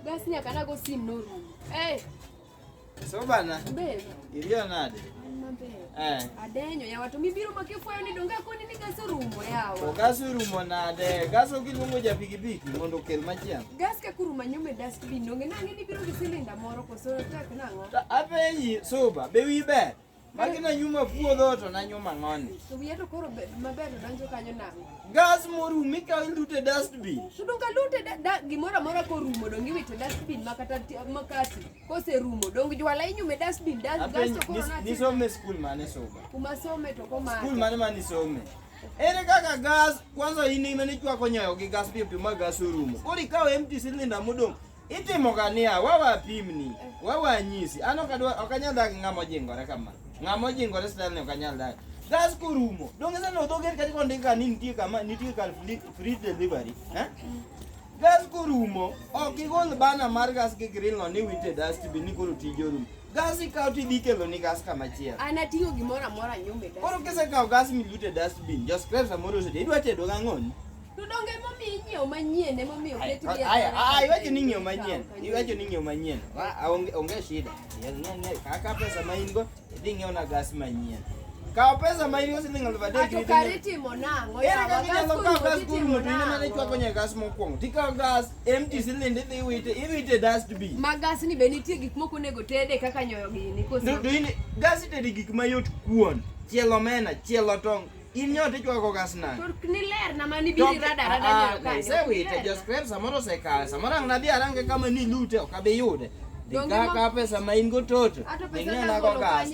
Bas nyaka nago sim norumo. Eh. So bana. Mbele. Irio nade? Eh. Adenyo ya watu mibiro makifwayo ni donga koni ni gaso rumo yawa. Gaso rumo nade? Gaso kilungo ja pikipiki mondo kel machiang. Gas ka kuruma nyume dust bin donge nangi ni biro gi silinda moro koso tak nango. Apenyi suba be wibe. Magi na nyuma puodho to na nyuma ng'oni. To wiya to koro be- maber to donjo kanyo nang'o? Gas morum ikawo iluto e dustbin. To donge alute da- da- gimoro amora korumo donge iwito e dustbin ma kata ti- makati koserumo donge jwala inyume e dustbin das- Apenj, gasto koro nis- nati- nisome skul mane soma? kuma some to komako. Skul mane ma nisome? Ere kaka gas kwanza in ema nichwako nyoyo gi gas piyo piyo ma gas orumo. Koro ikawo empty cylinder modong' Itimo ga niya, wawe apimni, wawe anyisi. An ok adwa ok anyal dak ng'ama ojingore kama. Ng'ama ojingore style ni ok anyal dak. Gas kurumo. Donge sasa ndo doger katika ndika ni nitie kama nitie kal free- free delivery. Eh? Gas kurumo. Ok igol bana mar gas gi grill no ni wite dust bin ni koro tije orumo. Gas ikaw ti dhi kelo ni gas kama chielo. An ating'o gimoro amora nyume da. Koro kisekawo gas milute dust bin, jo scrap samoro osede idwa tedo gang'oni. To donge momiyo inyiewo manyien ema omiyo oket gi Aya, aya, iwacho ni ng'iew manyien. Iwacho ni ng'iew manyien. Ma- a- Onge onge shida. Ya, ng'e- ng'e, Kaka pesa ma in go, idhi ng'iew na gas manyien. Kaw pesa ma in go siling' aluf adek. Ato idhi kare ng'iew- itimo nang'o? Ere yawa? kaka Gas inyalo kaw kuno gas itimo kuno to in ema ne nang'o? chwako nyaka gas mokwongo. Tikaw gas, empty siling' idhi iwite, iwite e dustbin. Ma gas ni be nitie gik moko onego tede kaka nyoyo gini koso? Ndu- ndu ini- gas itede gik mayot kuon, chielo omena, chielo tong', Inyote chwa ko kasna. Tur kniler na mani biri rada rada ah, nyo ka. Se we te just prep samoro se ka. Samoro ang nabi arange kama ni lute o kabe yude. Dika ka pesa ma in go toto. Ato pesa na ko gas.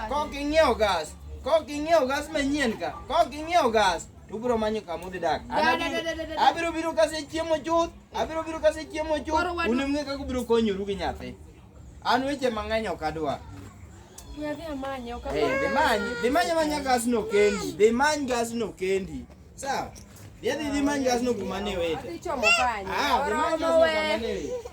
Ko kingyo gas. Ko kingyo gas ma nyen ka. Ko kingyo gas. Tubro manyo kamu de dak. Abiro biro kase chiemo chuth. Abiro biro kase chiemo chuth. Unemge ka kubiro konyo rugi nyathi. An weche mang'eny ok adwa. Hey, dhi many, dhi many manya gasno kendi. Dhi many gasno kendi. Sawa? Dhi dhi dhi many gasno kuma ne wete. Adhi chomo kanyo. Ah, dhi many gasno kuma ne wete.